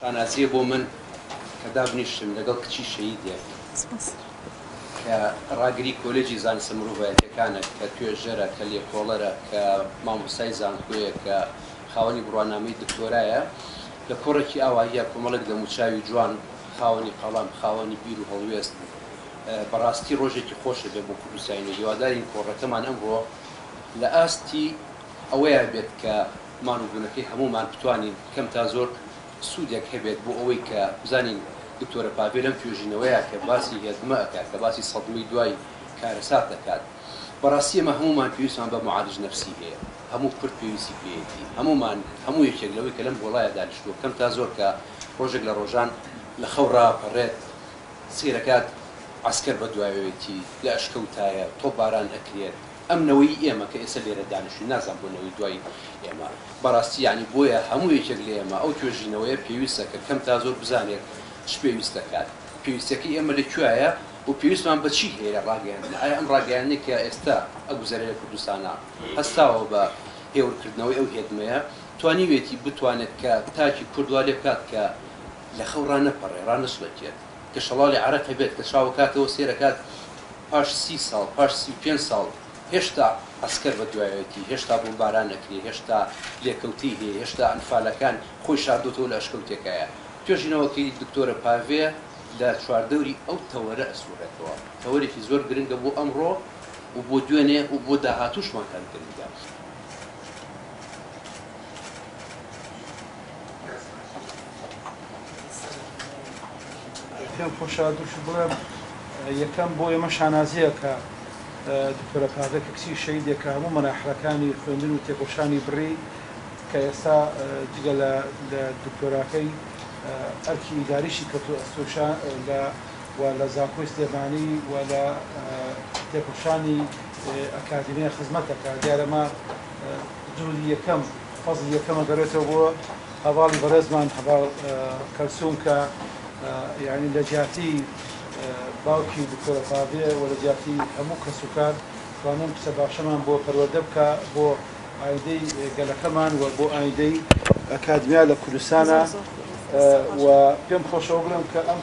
شانازیە بۆ من کە دابنیشتم لەگەڵ کچی شەهیدێک کە ڕاگری کۆلێجی زانستە مرۆڤایەتیەکانە کە توێژەرە کە لێکۆڵەرە کە مامۆستای زانکۆیە کە خاوەنی بڕوانامەی دکتۆرایە لە کۆڕێکی ئاواییە کۆمەڵێک دەموچاوی جوان خاوەنی قەڵەم خاوەنی بیر و هەڵوێست بوو بەڕاستی ڕۆژێکی خۆشە بێ بۆ کوردستانی و هیوادارین کۆڕەکەمان ئەمڕۆ لە ئاستی ئەوەیە بێت کە ماندوو بوونەکەی هەموومان بتوانین کەم تا زۆر سوودێک هەبێت بۆ ئەوەی کە بزانین دکتۆرە پاڤێ لەم توێژینەوەیە کە باسی هێزمە ئەکات کە باسی سەدمەی دوای کارەسات دەکات بەڕاستی ئەمە هەموومان پێویستمان بە معالج نفسی هەیە هەموو کورد پێویستی پێیەتی هەموومان هەموو یەکێک لەوەی کە لەم گۆڵایە دانیشتووە کەم تا زۆر کە ڕۆژێک لە ڕۆژان لە خەو ڕاپەڕێت سەیرەکات عەسکەر بە دوایەوەیەتی لە ئەشکەوتایە تۆپ باران ئەکرێت. ئەم نەوەی ئێمە کە ئێستا لێرە دانیشتووین، نازانم بۆ نەوەی دوای ئێمە، بەڕاستی یانی بۆیە هەموو یەکێک لە ئێمە ئەو توێژینەوەیە پێویستە کە کەم تا زۆر بزانێت چ پێویست دەکات، پێویستیەکەی ئێمە لە کوێایە و پێویستمان بە چی هەیە لە ڕاگەیاندن، ئایا ئەم ڕاگەیاندنەی کە ئێستا ئەگوزەرێ لە کوردستانا هەستاوە بە هێورکردنەوەی ئەو هێدمەیە، توانیوێتی بتوانێت کە تاکی کورد وا لێ بکات کە لە خەو ڕانەپەڕێ، ڕانەسوتێت، کە شەڵاڵی عەرەق هەبێت، کە چاو کاتەوە سێرەکات. پاش سی ساڵ، پاش سی و پێنج ساڵ هێشتا عەسکەر بە دوایەتی، هێشتا بۆمباران ئەکرێ، هێشتا لێکەوتەی هەیە، هێشتا ئەنفالەکان خۆی شاردۆتەوە لە ئەشکەوتێکایە. توێژینەوەکەی دکتۆرە پاڤێ لە چواردەوری ئەو تەوەرە ئەسوڕێتەوە. تەوەرێکی زۆر گرنگە بۆ ئەمڕۆ و بۆ دوێنێ و بۆ داهاتووشمان هەر گرنگە. پێم خۆشە دووش بڵێم یەکەم بۆ ئێمە شانازیە کە دکتۆرە پادە کە کچی شەیدێک کە هەموو مەراحلەکانی خوێندن و تێکۆشانی بڕی کە ئێستا جگە لە دکتۆراکەی ئەرکی ئیداریشی کەوتو ئەستۆشا لە و لە زانکۆی سلێمانی و لە تێکۆشانی ئەکادیمیە خزمەتەکە دیارەمە جوودی یەکەم فەزی یەکەمە گەڕێتەوە بۆ هەڤاڵی بەڕێزمان هەڤاڵ کەلسوم کە یانی لە جیاتی باوکی دکتۆرە پاڤێ و لە جیاتی هەموو کەس و کار توانن کچە باشەمان بۆ پەروەردە بکا بۆ ئایندەی گەلەکەمان و بۆ ئایندەی ئەکادمیا لە کوردستانا و پێم خۆشە ئەوە بڵێم کە ئەم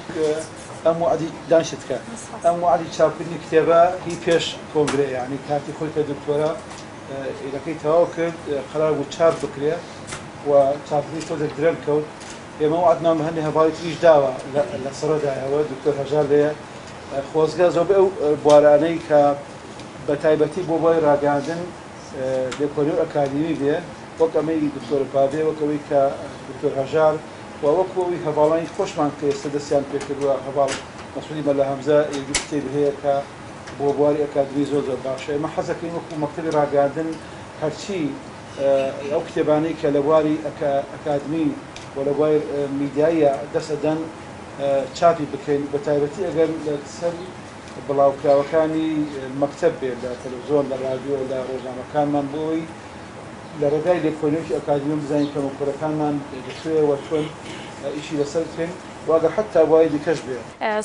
ئەم وەعدی دانیشت کە ئەم وەعدی چاپکردنی کتێبە هی پێش کۆنگرە یانی کاتی خۆی کە دکتۆرە ئیرەکەی تەواو کرد قەرار بوو چاپ بکرێ و چاپەکەیش تۆزێک درەنگ کەوت ئێمە وەعدمان بە هەندێ هەڤاڵی تریش داوە لە سڕەدایەوە دکتۆر هەژار لێیە خۆزگە زۆربەی ئەو بوارانەی کە بە تایبەتی بۆ بۆی ڕاگەاندن لێکۆلی و ئەکادیمی بێ وەک ئەمەی دکتۆر پاڤێ وەکەوەی کە دکتۆر هەژار و وەکو ئەوی هەڤاڵانی خۆشمان کە ئێستا دەستیان پێکردووە هەڤاڵ مەسعودی مەلا هەمزە یەکدو کتێبی هەیە کە بۆ بواری ئەکادمی زۆر زۆر باشە ئێمە حەزەکەین وەکو مەکتەبی ڕاگەاندن هەرچی ئەو کتێبانەی کە لە بواری ئەکادمی و لە بوار میدیاییا دەست ئەدەن چاپی بکەین، بە تایبەتی ئەگەر لە سەر بڵاوکراوەکانی مەکتەب بێت لە تەلەفزۆن، لە ڕادیۆ، لە ڕۆژنامەکانمان بۆ ئەوەی لە ڕێگای لێکۆلینەوەکی ئەکادمییەوە بزانین کەموکوڕەکانمان لە کوێیە و چۆن ئیشی لە سەر بکەین و ئەگەر حەتتا بواری دیکەش بێ.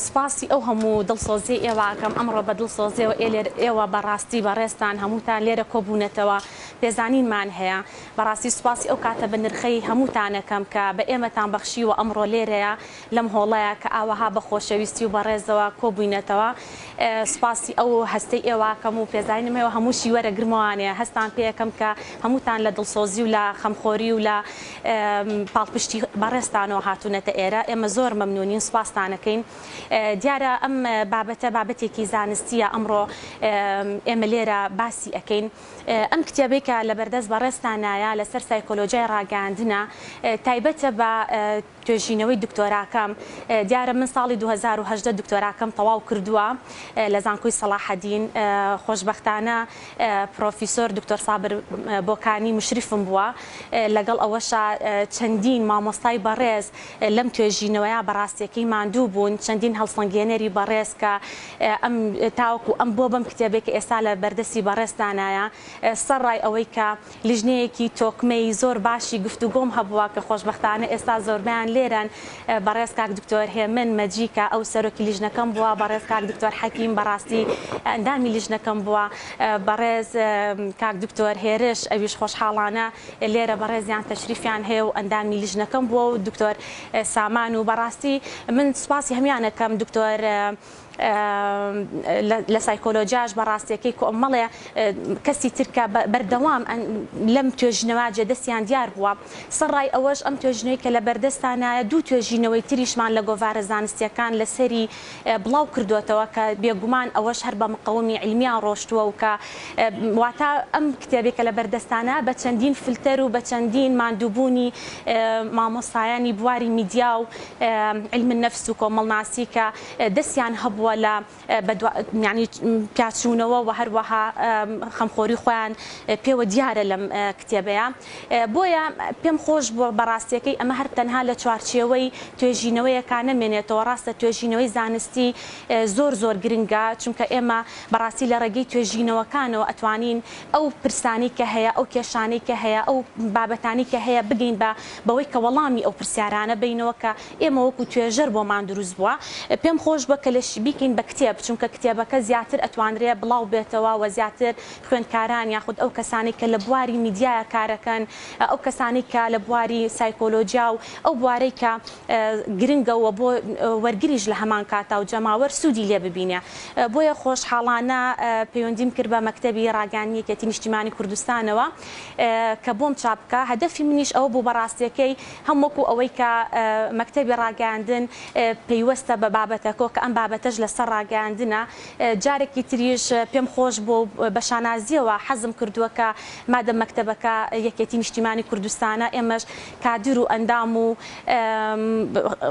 سپاسی ئەو هەموو دڵسۆزییەی ئێوە ئەکەم، ئەمڕۆ بە دڵسۆزییەوە ئێ لێرە ئێوە بە ڕاستی بەڕێزتان هەمووتان لێرە کۆ بوونەتەوە. پێزانینمان هەیە. بەڕاستی سوپاسی ئەو کاتە بەنرخەی هەمووتانەکەم کە بە ئێمەتان بەخشیوە ئەمڕۆ لێرەیە لەم هۆڵەیا کە ئاوەها بە خۆشەویستی و بە ڕێزەوە کۆبووینەتەوە. سوپاسی ئەو هەستەی ئێواکەم و پێزانینم هەیە و هەمووشی وەرە گرمەوانەیە هەستان پێکەم کە هەمووتان لە دڵسۆزی و لە خەمخۆری و لە پاڵپشتی بەڕێزتانەوە هاتوونەتە ئێرە. ئێمە زۆر مەمنوونین سوپاستانەکەین. دیارە ئەم بابەتە بابەتێکی زانستییە ئەمڕۆ ئێمە لێرە باسی ئەکەین. ئەم کتێبەی کە لە بەردەست بەڕێزتانایە لەسەر سایکۆلۆجیای ڕاگەیاندنە، تایبەتە بە توێژینەوەی دکتۆراکەم، دیارە من ساڵی دوو هەزار و هەژدە دکتۆراکەم تەواو کردووە لە زانکۆی سەڵاحەدین، خۆشبەختانە پڕۆفیسۆر دکتۆر سابر بۆکانی مشریفم بووە، لەگەڵ ئەوەشا چەندین مامۆستای بەڕێز لەم توێژینەوەیە بە ڕاستیەکەی ماندوو بوون، چەندین هەڵسەنگێنەری بەڕێز کە ئەم تاوەکو ئەم بۆ بەم کتێبەی کە ئێستا لە بەردەستی بەڕێزتانایە سە ڕای ئەوەی کە لیژنەیەکی تۆکمە ی زۆر باشی گفتوگۆم هەبووە کە خۆشبەختانە ئێستا زۆربەیان لێرەن بەڕێز کاک دکتۆر هێمن مەجی کە ئەو سەرۆکی لیژنەکەم بووە بەڕێز کاک دکتۆر حەکیم بەڕاستی ئەندامی لیژنەکەم بووە بەڕێز کاک دکتۆر هێرش ئەویش خۆشحاڵانە لێرە بەڕێزیان تەشریفیان هەیە و ئەندامی لیژنەکەم بووە و دکتۆر سامان و بەڕاستی من سوپاسی هەمویانەکەم دکتۆر لە سایکۆلۆجیاش بەڕاستیەکەی کۆمەڵێ کەسی ترکە بەردەوام لەم توێژینەوە جێ دەستیان دیار بووە سەرڕای ئەوەش ئەم توێژینەوەی کە لە بەردەستانایە دوو توێژینەوەی تریشمان لە گۆڤارە زانستیەکان لەسەری بڵاو کردۆتەوە کە بێگومان ئەوەش هەر بە مقەومی عیلمیان ڕۆشتووە و کە واتا ئەم کتێبی کە لە بەردەستانە بە چەندین فلتەر و بە چەندین ماندووبوونی مامۆستایانی بواری میدیا و عیلم النفس و کۆمەڵناسی کە دەستیان هەبووە لە بە دوا یانی پیاچوونەوە و هەروەها خەمخۆری خۆیان پێوە دیارە لەم کتێبەیە. بۆیە پێم خۆش بووە بە ڕاستییەکەی ئەمە هەر تەنها لە چوارچێوەی توێژینەوەیەکا نەمێنێتەوە، ڕاستە توێژینەوەی زانستی زۆر زۆر گرنگە، چونکە ئێمە بە ڕاستی لە ڕێگەی توێژینەوەکانەوە ئەتوانین ئەو پرسانەی کە هەیە، ئەو کێشانەی کە هەیە، ئەو بابەتانەی کە هەیە بگەین بە بەوەی کە وەڵامی ئەو پرسیارانە بەینەوە کە ئێمە وەکو توێژەر بۆمان دروست بووە. پێم خۆش بووە کە لە بیکەین بە کتێب، چونکە کتێبەکە زیاتر ئەتوانرێ بڵاو بێتەوە و زیاتر خوێندکاران یاخود ئەو کەسانەی کە لە بواری میدیایا کارەکەن، ئەو کەسانەی کە لە بواری سایکۆلۆجیا و ئەو بوارەی کە گرنگە و بۆ وەرگریش لە هەمان کاتا و جەماوەر سوودی لێ ببینێ. بۆیە خۆشحاڵانە پەیوەندیم کرد بە مەکتەبی ڕاگەیاندنی یەکێتی نیشتیمانی کوردستانەوە کە بۆم چاپ بکا. هەدەفی منیش ئەوە بوو بە ڕاستییەکەی هەم وەکوو ئەوەی کە مەکتەبی ڕاگەیاندن پەیوەستە بە بابەتەکەوە کە ئەم بابەتەش لە سەر ڕاگەیاندنە، جارێکی تریش پێم خۆش بووە و بە شانازییەوە حەزم کردووە کە مادەم مەکتەبەکە یەکێتی نیشتیمانی کوردستانە ئێمەش کادر و ئەندام و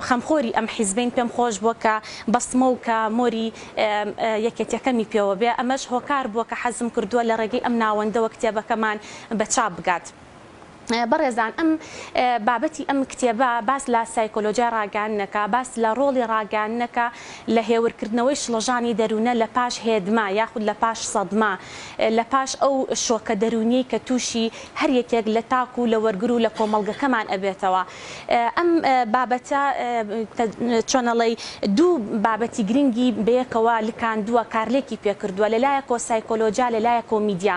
خەمخۆری ئەم حیزبەین پێم خۆش بووە کە بەستمە و کە مۆری یەکێتیەکەمی پێوە بێ ئەمەش هۆکار بووە کە حەزم کردووە لە ڕێگەی ئەم ناوەندەوە کتێبەکەمان بە چاپ بگات. بەڕێزان ئەم بابەتی ئەم کتێبە باس لە سایکۆلۆژیای ڕاگەیاندنەکە، باس لە ڕۆڵی ڕاگەیاندنەکە لە هێورکردنەوەی شڵەژانی دەروونە لە پاش هێدمە یاخود لە پاش سەدمە، لە پاش ئەو شۆکە دەروونیەی کە تووشی هەر یەکێک لە تاک و لە وەرگر و لە کۆمەڵگەکەمان ئەبێتەوە. ئەم بابەتە چۆنەڵێی دوو بابەتی گرنگی بەیەکەوە لکاندووە، کارلێکی پێکردووە، لەلایەکەوە سایکۆلۆژیا، لەلایەکەوە میدیا.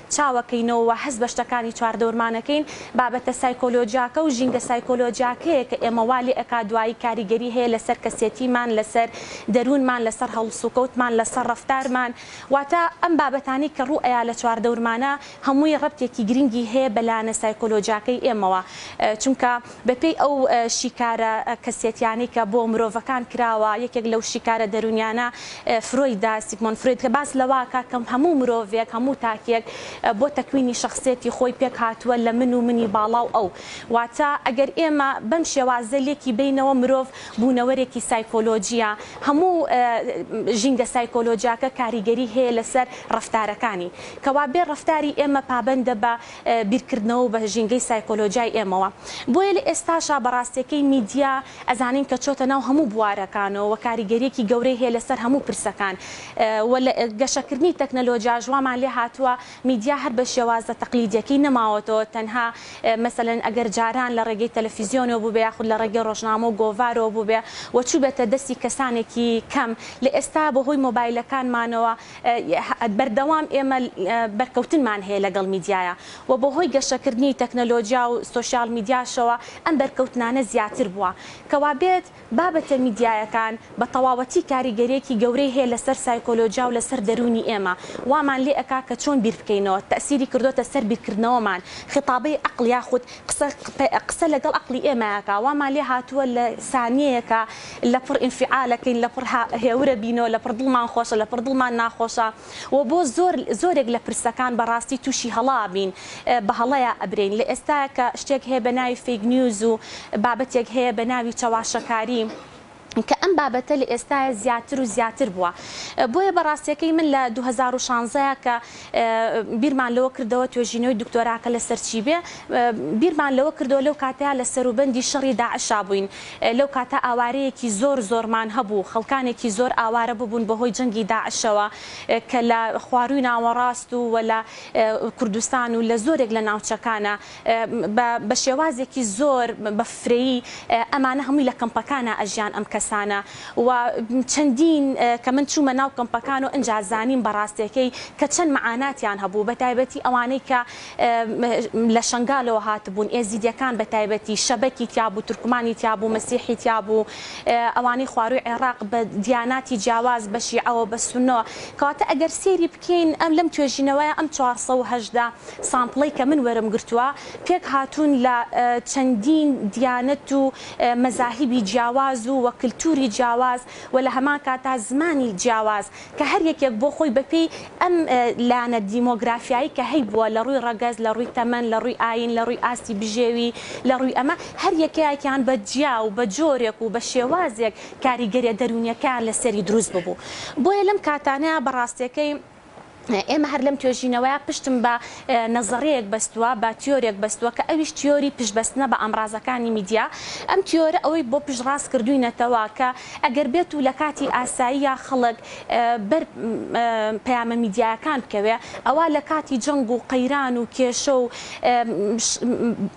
چاوەکەینەوە و هەست بە شتەکانی چواردەورمان ئەکەین، بابەتە سایکۆلۆجیاکە و ژینگە سایکۆلۆجیاکەیە کە ئێمە وا لێ ئەکات دوایی کاریگەری هەیە لەسەر کەسێتیمان، لەسەر دەروونمان، لەسەر هەڵسوکەوتمان، لەسەر ڕەفتارمان. واتە ئەم بابەتانەی کە ڕوو ئەیا لە چواردەورمانە هەمووی ڕەبتێکی گرنگی هەیە بە لایەنە سایکۆلۆجیاکەی ئێمەوە چونکە، بەپێی ئەو شیکارە کەسێتیانەی کە بۆ مرۆڤەکان کراوە، یەکێک لەو شیکارە دەروونیانە فرۆیدە، سیگمۆند فرۆید، کە باس لەوە ئەکات کە هەموو مرۆڤێک، هەموو تاکێک بۆ تەکوینی شەخسیەتی خۆی پێک هاتووە لە من و منی باڵا و ئەو. واتە ئەگەر ئێمە بەم شێوازە لێکی بەینەوە مرۆڤ بوونەوەرێکی سایکۆلۆجییە، هەموو ژینگە سایکۆلۆجیاکە کاریگەری هەیە لەسەر ڕەفتارەکانی. کەوابێ ڕەفتاری ئێمە پابەندە بە. بیرکردنەوە و بە ژینگەی سایکۆلۆجیای ئێمەوە. بۆیە لە ئێستاشا بە ڕاستیەکەی میدیا ئەزانین کە چۆتە ناو هەموو بوارەکانەوە و کاریگەریەکی گەورەی هەیە لەسەر هەموو پرسەکان و لە گەشەکردنی تەکنەلۆجیاش وامان لێ هاتووە میدیا هەر بە شێوازە تەقلیدیەکەی نەماوەتەوە تەنها مەسەلەن ئەگەر جاران لە ڕێگەی تەلەفیزیۆنەوە بووبێ یاخود لە ڕێگەی ڕۆژنامە و گۆڤارەوە بووبێ و چووبێتە دەستی کەسانێکی کەم لە ئێستا بە هۆی مۆبایلەکانمانەوە بەردەوام ئێمە بەرکەوتنمان هەیە لەگەڵ میدیایا و بەهۆی گەشەکردنی تەکنەلۆجیا و سۆشیال میدیاشەوە ئەم بەرکەوتنانە زیاتر بووە. کەوابێت بابەتە میدیایەکان بە تەواوەتی کاریگەریەکی گەورەی هەیە لەسەر سایکۆلۆجیا و لەسەر دەروونی ئێمە، وامان لێ ئەکا کە چۆن بیر بکەینەوە، تەئسیری کردۆتە سەر بیرکردنەوەمان، خیتابەی عەقڵ یاخود قسە قسە لەگەڵ عەقڵی ئێمە ئەکا، وامان لێ هاتووە لە سانیەیەکا لە پڕ ئینفیعالەکەین لە پڕ هێورە بینۆ لە پڕ دڵمان خۆشە لە پڕ دڵمان ناخۆشە وە بۆ زۆر زۆرێک لە پرسەکان بە ڕاستی توشی هەڵە ئەبین بە هەڵەیا ئەبرێین لە ئێستایا کە شتێک هەیە بە ناوی فەیک نیوز و بابەتێک هەیە بە ناوی چەواشەکاری کە ئەم بابەتە لە ئێستایا زیاتر و زیاتر بوە بۆیە بە ڕاستیەکەی من لە دوو هەزار و شانزە کە بیرمان لەوە کردەوە توێژینەوەی دکتۆراکە لەسەر چی بێ، بیرمان لەوە کردەوە لەو کاتەیا لە سەروبەندی شەڕی داعشا بووین، لەو کاتە ئاوارەیەکی زۆر زۆرمان هەبوو، خەڵکانێکی زۆر ئاوارە ببوون بەهۆی جەنگی داعشەوە کە لە خوارووی ناوەڕاست و وە لە کوردستان و لە زۆرێک لە ناوچەکانە. بە بە شێوازێکی زۆر بە فرەیی ئەمانە هەمووی لە کەمپەکانا ئەژیان ئەم کەسانە و چەندین کە من چوومە ناو کەمپەکان و ئنجا زانیم بە ڕاستێکەی کە چەند مەعاناتیان هەبوو بە تایبەتی ئەوانەی کە لە شەنگالەوە هاتبوون ئێزیدیەکان بە تایبەتی شەبەکی تیا بوو تورکمانی تیا بوو مەسیحی تیا بوو ئەوانەی خوارووی عێڕاق بە دیاناتی جیاواز بە شیعەوە بە سونەوە کەواتە ئەگەر سێری کەین، ئەم لەم توێژینەوەیە ئەم چوار سەد و هەژدە سامپڵەی کە من وەرم گرتووە پێک هاتوون لە چەندین دیانەت و مەزاهیبی جیاواز و وە کلتوری جیاواز وە لە هەمان کاتا زمانی جیاواز کە هەر یەکێک بۆ خۆی بە پێی ئەم لایەنە دیمۆگرافیایی کە هەیبووە لە ڕووی ڕەگەز لە ڕووی تەمەن لە ڕووی ئاین لە ڕووی ئاستی بژێوی لە ڕووی ئەمە هەر یەکەیەکیان بە جیا و بە جۆرێک و بە شێوازێک کاریگەریە دەروونیەکەیان لەسەری دروست ببوو بۆیە لەم کاتانەیا بەڕاستەکەی ئێمە هەر لەم توێژینەوەیە پشتم بە نەزەڕەیەک بەستووە بە تیۆرێک بەستووە کە ئەویش تیۆری پشبەستنە بە ئامرازەکانی میدیا ئەم تیۆرە ئەوەی بۆ پشت ڕاست کردوینەتەوە کە ئەگەر بێت و لە کاتی ئاساییە خەڵک بەر پەیامە میدیایەکان بکەوێ ئەوە لە کاتی جەنگ و قەیران و کێشە و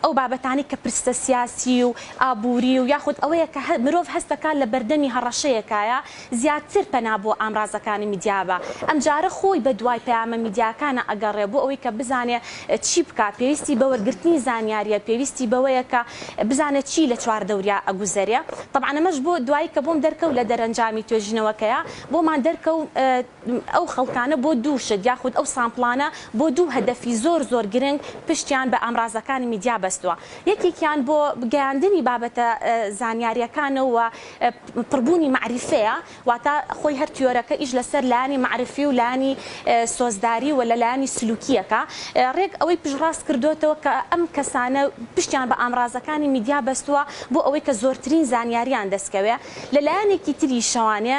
ئەو بابەتانی کە پرسە سیاسی و ئابووری و یاخود ئەوەیە کە مرۆڤ هەست دەکات لە بەردەمی هەڕەشەیەکایە، زیاتر پەنا بۆ ئامرازەکانی میدیا بە. ئەمجارە خۆی بە دوای پەیامە میدیاکانە ئەگەڕێ بۆ ئەوەی کە بزانێ چی بکا، پێویستی بە وەرگرتنی زانیارییە، پێویستی بەوەیە کە بزانێ چی لە چواردەوریا ئەگوزەرێ. تەبعەن ئەمەش بۆ دوایی کە بۆم دەرکەوت لە دەرەنجامی توێژینەوەکەیا بۆمان دەرکەوت، ئەو خەڵکانە بۆ دوو شت یاخود ئەو سامپڵانە بۆ دوو هەدەفی زۆر زۆر گرنگ پشتیان بە ئامرازەکانی میدیا بەستووە یەکێکیان بۆ گەیاندنی بابەتە زانیاریەکانە و پڕبوونی مەعریفەیە واتە خۆی هەر تیۆرەکە ئیش لەسەر لایەنی مەعریفی و لایەنی سۆزداری و لە لایەنی سلوکیەکە ڕێک ئەوەی پشتڕاست کردۆتەوە کە ئەم کەسانە پشتیان بە ئامرازەکانی میدیا بەستووە بۆ ئەوەی کە زۆرترین زانیاریان دەستکەوێ لە لایەنێکی تری شەوانێ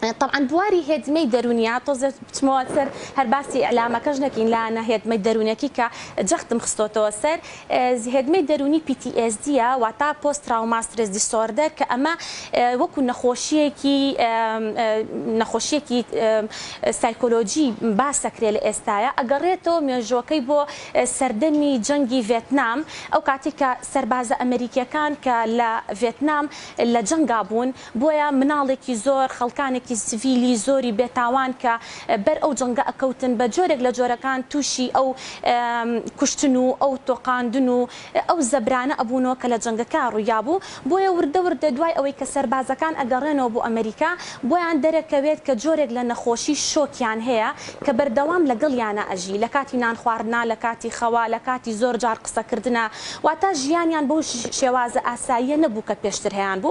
تەبعەن بواری هێدمەی دەرونیە تۆزێ بچمەوە سەر هەر باسی ئیعلامەکەش نەکەین لانە هێدمەی دەرونەکی کە جەختم خستۆتەوە سەر هێدمەی دەرونی PTSD یە واتا پۆست تراوما سترێس دیسۆردەر کە ئەمە وەکو نەخۆشیەکی نەخۆشیەکی سایکۆلۆجی باسەکرێ لە ئێستاە ئەگەڕێتەوە مێژۆکەی بۆ سەردەمی جەنگی ڤێتنام ئەو کاتی کە سەربازە ئەمریکیەکان کە لە ڤێتنام لە جەنگا بوون بۆیە مناڵێکی زۆر خەڵکانێکی سڤیلی زۆری بێ تاوان کە بەر ئەو جەنگە ئەکەوتن بە جۆرێک لە جۆرەکان توشی ئەو کوشتن و ئەو تۆقاندن و ئەو زەبرانە ئەبونەوە کە لە جەنگەکە ڕویابو بۆیە وردە وردە دوای ئەوەی کە سەربازەکان ئەگەڕێنەوە بۆ ئەمریکا بۆیان دەرەکەوێت کە جۆرێک لە نەخۆشی شۆکیان هەیە کە بەردەوام لەگەڵیانا ئەژی لە کاتی نان خواردنا لە کاتی خەوا لە کاتی زۆر جار قسەکردنا واتا ژیانیان بەو شێوازە ئاساییە نەبو کە پێشتر هەیانبو.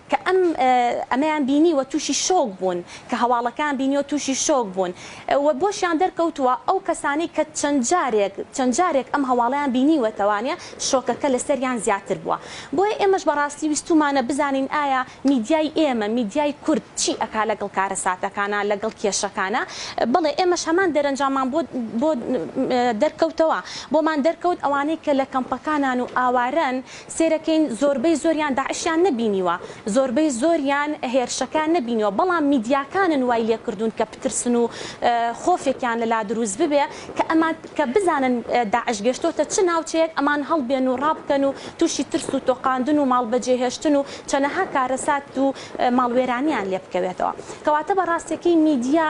کە ئەم ئەمەیان بینی و تووشی شۆک بوون، کە هەواڵەکەیان بینی و تووشی شۆک بوون و بۆشیان دەرکەوتووە، ئەو کەسانەی کە چەند جارێک چەند جارێک ئەم هەواڵەیان بینیوەتەوانە شۆکەکە لەسەریان زیاتر بووە. بۆیە ئێمەش بەڕاستی ویستوومانە بزانین ئایا میدیای ئێمە، میدیای کورد چی ئەکا لەگەڵ کارەساتەکانا، لەگەڵ کێشەکانا؟ بەڵێ ئێمەش هەمان دەرەنجاممان بۆ بۆ دەرکەوتەوە، بۆمان دەرکەوت ئەوانەی کە لە کەمپەکانان و ئاوارەن، سێرەکەین زۆربەی زۆریان داعشیان نەبینیوە زۆربەی زۆریان هێرشەکە نەبینیوە بەڵام میدیاکانن وای لێکردون کە پترسن و خۆفێکیان لەلا دروست ببێ کە ئەمان کە بزانن داعش گەشتۆتە چ ناوچەیەک ئەمان هەڵبێن و ڕابکەن و توشی ترس و تۆقاندن و ماڵ بەجێ هێشتن و چەنەها کارەسات و ماڵ وێرانیان لێبکەوێتەوە کەواتە بەڕاستەکەی میدیا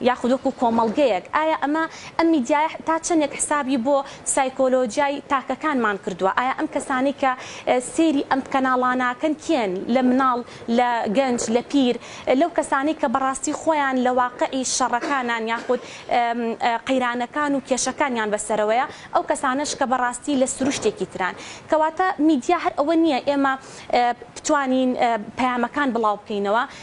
یاخود وەکو کۆمەڵگەیەک، ئایا ئەمە ئەم میدیایە تا چەندێک حسابی بۆ سایکۆلۆجیای تاکەکانمان کردووە، ئایا ئەم کەسانەی کە سەیری ئەم کەناڵاناکەن کێن، لە مناڵ، لە گەنج، لە پیر، لەو کەسانەی کە بەڕاستی خۆیان لە واقعی شەڕەکانان یاخود قەیرانەکان و کێشەکانیان بەسەرەوەیە، ئەو کەسانەش کە بەڕاستی لە سروشتێکی تران. کەواتە میدیا هەر ئەوە نییە ئێمە بتوانین پەیامەکان بڵاو بکەینەوە،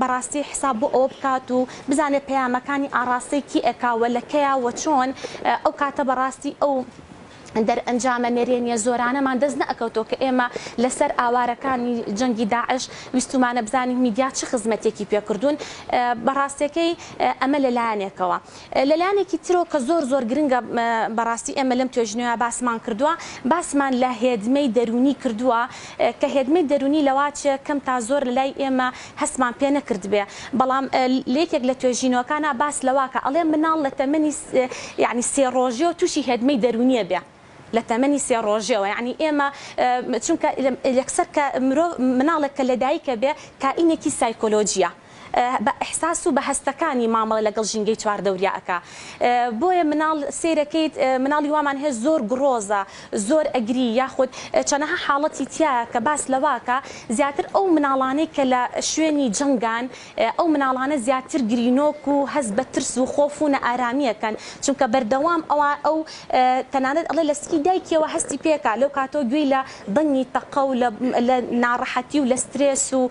بەڕاستی حساب بۆ ئەوە بکات و بزانێت پەیامەکانی ئاڕاستەی کێ ئەکا و لە کەیە وە چۆن ئەو کاتە بەڕاستی ئەو دەرئەنجامە نەرێنیە زۆرانەمان دەست نەئەکەوتەوە کە ئێمە لە سەر ئاوارەکانی جەنگی داعش ویستومانە بزانین میدیا چ خزمەتێکی پێ کردوون بە ڕاستێکەی ئەمە لە لایەنێکەوە. لەلایەنێکی ترەوە کە زۆر زۆر گرنگە بەڕاستی ئێمە لەم توێژینەوە باسمان کردووە باسمان لە هێدمەی دەروونی کردووە کە هێدمەی دەروونی لەواچێ کەم تا زۆر لەلای ئێمە هەستمان پێ نەکردبێ بەڵام لەیەکێک لە توێژینەوەکانا باس لەواکا ئەڵێ مناڵ لە تەمەنی یانی سێ ڕۆژێەوە تووشی هێدمەی دەروونیە بێ لە تەمەنی سێ ڕۆژێەوە یانی ئێمە چونکە یەکسەر کە مرۆڤ مناڵێک کە لەدایکە بێ کائینێکی سایکۆلۆجیە. بە ئیحساس و بە هەستەکانی مامەڵە لەگەڵ ژینگەی چواردەوریا ئەکا بۆیە مناڵ سەیرەکەیت مناڵی وامان هەیە زۆر گڕۆزە زۆر ئەگری یاخود چەنەها حاڵەتی تیایە کە باس لەواکا زیاتر ئەو مناڵانەی کە لە شوێنی جەنگان ئەو مناڵانە زیاتر گرینۆک و هەست بە ترس و خۆف و نەئارامی ئەکەن چونکە بەردەوام ئەوا ئەو تەنانەت ئەڵێ لە سکی دایکیەوە هەستی پێکا لەو کاتەوە گوێی لە دەنگی تەقە و لە لە ناڕەحەتی و لە سترێس و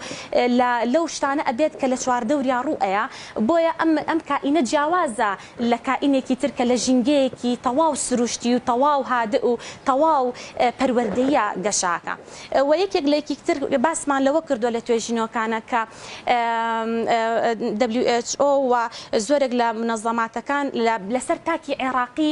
لە لەو شتانە ئەبێت کە لە چواردەوریا ڕوو ئەیا بۆیە ئەم ئەم کائینە جیاوازە لە کائینێکی تر کە لە ژینگەیەکی تەواو سروشتی و تەواو هادئ و تەواو پەروەردەییە گەشاکە وە یەکێک لە یەکیک تر باسمان لەوە کردوە لە توێژینۆکانە کە WHO و زۆرێک لە منەزەماتەکان لە لەسەر تاکی عێراقی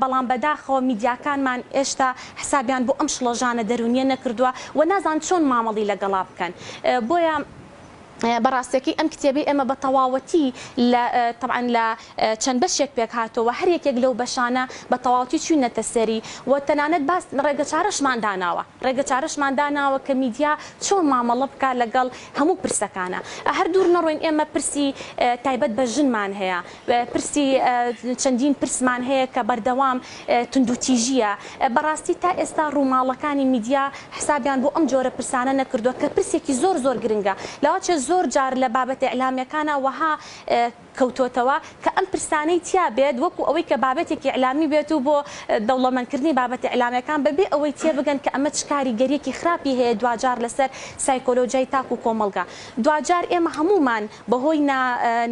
بەڵام بەداخەوە میدیاکانمان هێشتا حسابیان بۆ ئەم شڵەژانە دەروونیە نەکردووە و نازان چۆن مامەڵی لەگەڵا بکەن بۆیە بەڕاستەکەی ئەم کتێبەی ئێمە بە تەواوەتی لە تەبعەن لە چەند بەشێک پێک هاتەوە هەر یەکێک لەو بەشانە بە تەواوەتی چوینەتە سەری و تەنانەت باس ڕێگە چارەشمان داناوە ڕێگە چارەشمان داناوە کە میدیا چۆن مامەڵە بکات لەگەڵ هەموو پرسەکانە هەر دوور نەڕۆین ئێمە پرسی تایبەت بە ژنمان هەیە پرسی چەندین پرسمان هەیە کە بەردەوام توندوتیژییە. بەڕاستی تا ئێستا ڕووماڵەکانی میدیا حسابیان بۆ ئەم جۆرە پرسانە نەکردووە کە پرسێکی زۆر زۆر گرنگە. لاوەچێ زۆر جار لە بابەتە ئیعلامییەکانا وەها کەوتۆتەوە کە ئەم پرسانەی تیا بێت وەکو ئەوەی کە بابەتێکی ئیعلامی بێت و بۆ دەوڵەمەندکردنی بابەتە ئیعلامییەکان بە بێ ئەوەی تێبگەن کە ئەمە چ کاریگەرییەکی خراپی هەیە دواجار لەسەر سایکۆلۆجیای تاک و کۆمەڵگا. دواجار ئێمە هەموومان. بەهۆی نا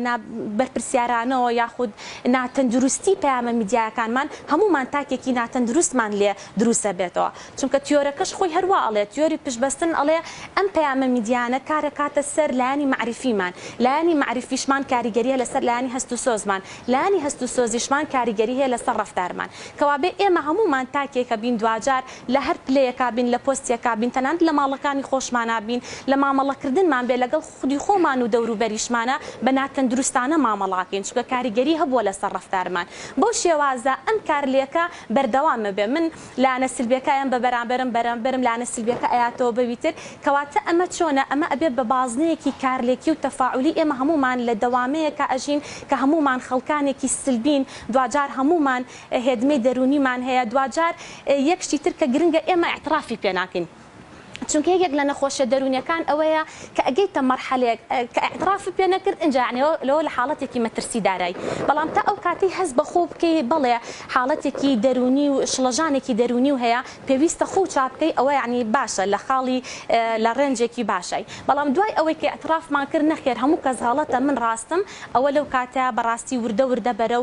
نا بەرپرسیارانەوە یاخود نا تەندروستی پەیامە میدیایەکانمان هەموومان تاکێکی ناتەندروستمان لێ دروست ئەبێتەوە چونکە تیۆرەکەش خۆی هەر وا ئەڵێ تیۆری پشت بەستن ئەڵێ ئەم پەیامە میدیایانە کار ئەکاتە سەر لایەنی مەعریفیمان لایەنی مەعریفیشمان کاریگەری هەیە لەسەر لایەنی هەست و سۆزمان لایەنی هەست و سۆزیشمان کاریگەری هەیە لەسەر ڕەفتارمان کەوابێ ئێمە هەموومان تاکێکە بین دواجار لە هەر پلەیەکا بین لە پۆستێکا بین تەنانەت لە ماڵەکانی خۆشمانا بین لە مامەڵە کردنمان بێ لەگەڵ خودی خۆمان و دەوروبەریشمانە بە ناتەندروستانە مامەڵاکەین چونکە کاریگەری هەبووە لەسەر ڕەفتارمان بەو شێوازە ئەم کارلێکە بەردەوامە بێ من لایەنە سلبیەکایم بە بەرامبەرم بەرامبەرم لایەنە سلبیەکە ئەیاتەوە بەوی تر کەواتە ئەمە چۆنە ئەمە ئەبێ بە بازنەیەکی کارلێکی و تەفاعولی ئێمە هەموومان لە دەوامەیەکا ئەژین کە هەموومان خەڵکانێکی سلبین دواجار هەموومان هێدمەی دەرونیمان هەیە دواجار یەک شتی تر کە گرنگە ئێمە ئیعترافی پێ ناکەین چونکە یەکێک لە نەخۆشیە دەرونیەکان ئەوەیە کە ئەگەیتە مەرحەلەیەک کە ئیعترافت پێ نەکرد ئینجا یەعنی لەوە لە حاڵەتێکی مەترسیدارای بەڵام تا ئەو کاتەی هەست بە خۆو بکەی بەڵێ حاڵەتێکی دەرونی و شڵەژانێکی دەرونی و هەیە پێویستە خۆو چا بکەی ئەوە یەعنی باشە لە خاڵی لە ڕێنجێکی باشای بەڵام دوای ئەوەی کە ئیعترافمان کرد نەخێر هەموو کەس غەڵەتە من ڕاستم ئەوە لەو کاتە بەڕاستی وردە وردە بەرەو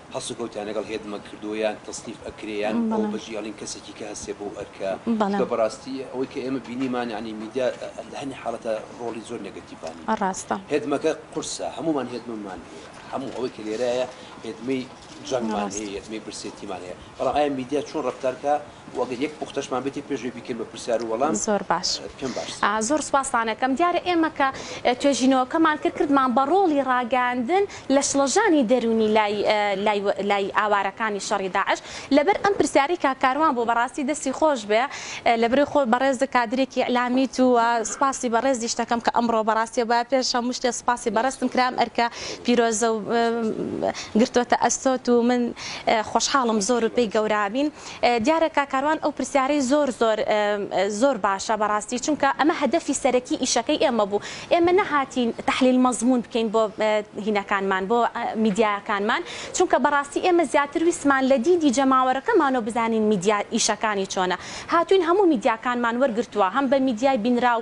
هەڵسوکەوتیان لەگەڵ هێدمە کردووە یان تەسنیف ئەکرێ یان ئەو بەجێ هێڵین کەسێکی کە هەستێ بەو ئەرکە چونکە بەڕاستی ئەوەی کە ئێمە بینیمان یانی میدیا لە هەنێ حاڵەتە ڕۆڵی زۆر نێگەتیڤانی ڕاستە هێدمەکە قورسە هەموومان هێدممان هەیە هەموو ئەوەی کە لێرایە هێدمەی جەنگمان هەیە هێدمەی برسێتیمان هەیە بەڵام ئایا میدیا چۆن ڕەفتار کە وەگەر یەک پوختەشمان بێتی پێش وەی بیکەین بە پرسیار و وەڵام زۆر باش پێم باشتر ئا زۆر سوپاستان ئەکەم دیارە ئێمە کە توێژینەوەکەمان کرد کردمان بە ڕۆڵی ڕاگەیاندن لە شڵەژانی دەروونی لای لای لای ئاوارەکانی شەڕی داعش لەبەر ئەم پرسیارەی کاک کاروان بۆ بەڕاستی دەستی خۆش بێ لە بری خۆ بەڕێزت کادرێکی ئیعلامیت و سوپاسی بەڕێزیشت ئەکەم کە ئەمڕۆ بەڕاستی با پێش هەموو شتێ سوپاسی بەڕێزتم کرا ئەم ئەرکە پیرۆزە و گرتۆتە ئەستۆت و من خۆشحاڵم زۆر و پێی گەورابین. دیارە کاک کاروان ئەو پرسیارەی زۆر زۆر زۆر باشە بەڕاستی چونکە ئەمە هەدەفی سەرەکی ئیشەکەی ئێمە بوو ئێمە نەهاتین تحلیل مضمون بکەین بۆ هینەکانمان بۆ میدیاکانمان چونکە بەڕاستی ئێمە زیاتر ویستمان لە دیدی جەماوەرەکەمانەوە بزانین میدیا ئیشەکانی چۆنە هاتوین هەموو میدیاکانمان وەرگرتووە هەم بە میدیای بینراو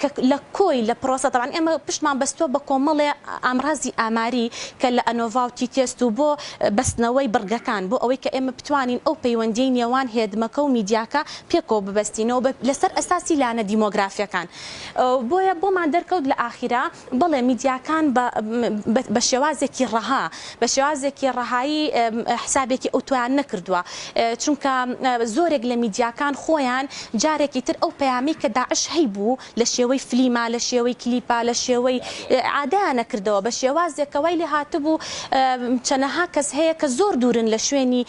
کە لە کۆی لە پرۆسە تەبعەن ئێمە پشتمان بەستووە بە کۆمەڵێ ئامرازی ئاماری کە لە ئەنۆڤا و تی تێست و بۆ بەستنەوەی بڕگەکان بۆ ئەوەی کە ئێمە بتوانین ئەو پەیوەندیەی نێوان هێدمەکە و میدیاکە پێکەوە ببەستینەوە بە لەسەر ئەساسی لانە دیمۆگرافیەکان بۆیە بۆمان دەرکەوت لە ئاخیرا بەڵێ میدیاکان بە بە شێوازێکی ڕەها بە شێوازێکی ڕەهایی حسابێکی ئەوتۆیان نەکردووە چونکە زۆرێک لە میدیاکان خۆیان جارێکی تر ئەو پەیامەی کە داعش هەیبوو لە شێوەی فلیمە لە شێوەی کلیپە لە شێوەی عادەیانە کردەوە بە شێوازێک کە وای لێ هاتبوو چەنەها کەس هەیە کە زۆر دوورن لە شوێنی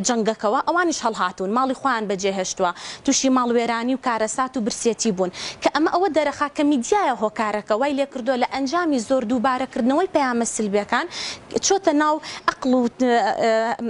جەنگەکەوە ئەوانیش هەڵهاتوون ماڵی خۆیان بەجێهێشتووە توشی ماڵوێرانی و کارەسات و برسێتی بوون کە ئەمە ئەوە دەرەخا کە میدیایە هۆکارەکە وای لێکردووە لە ئەنجامی زۆر دووبارە کردنەوەی پەیامە سلبێکان چۆتە ناو ئەقڵ و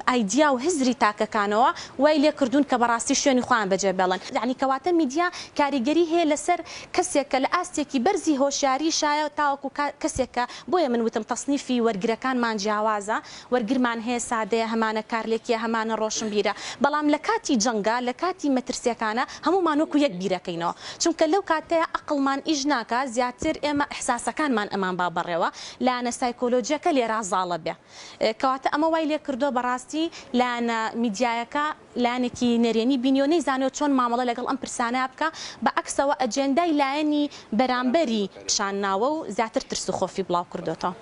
ئایدیا و هزری تاکەکانەوە وای لێکردوون کە بەڕاستی شوێنی خۆیان بەجێ بێڵن یەعنی کەواتە میدیا کاریگەری هەیە لەسەر کەسێک کە لە ئاستێکی بەرزی هۆشیاری شایە تاوەکو کەسێک کە بۆیە من وتم تەسنیفی وەرگرەکانمان جیاوازە وەرگرمان هەیە سادەیە هەمانە کارلێکیە هەمانە ڕۆشنبیرە بەڵام لە کاتی جەنگا لە کاتی مەترسیەکانە هەموومان وەکو یەک بیرەکەینەوە چونکە لەو کاتەیا ئەقڵمان ئیش ناکا زیاتر ئێمە ئیحساسەکانمان ئەمان با بەڕێوە لایەنە سایکۆلۆجیەکە لێرا زاڵە بێ کەواتە ئەمە وای لێ کردوە بەڕاستی لایەنە میدیایەکە لایەنێکی نەرێنی بینیوە نەیزانێ چۆن مامەڵە لەگەڵ ئەم پرسانەیا بکا بە عەکسەوە ئەجێندای لایەنی بەرامبەری پیشان ناوە و زیاتر ترس و خۆفی بڵاو کردۆتەوە.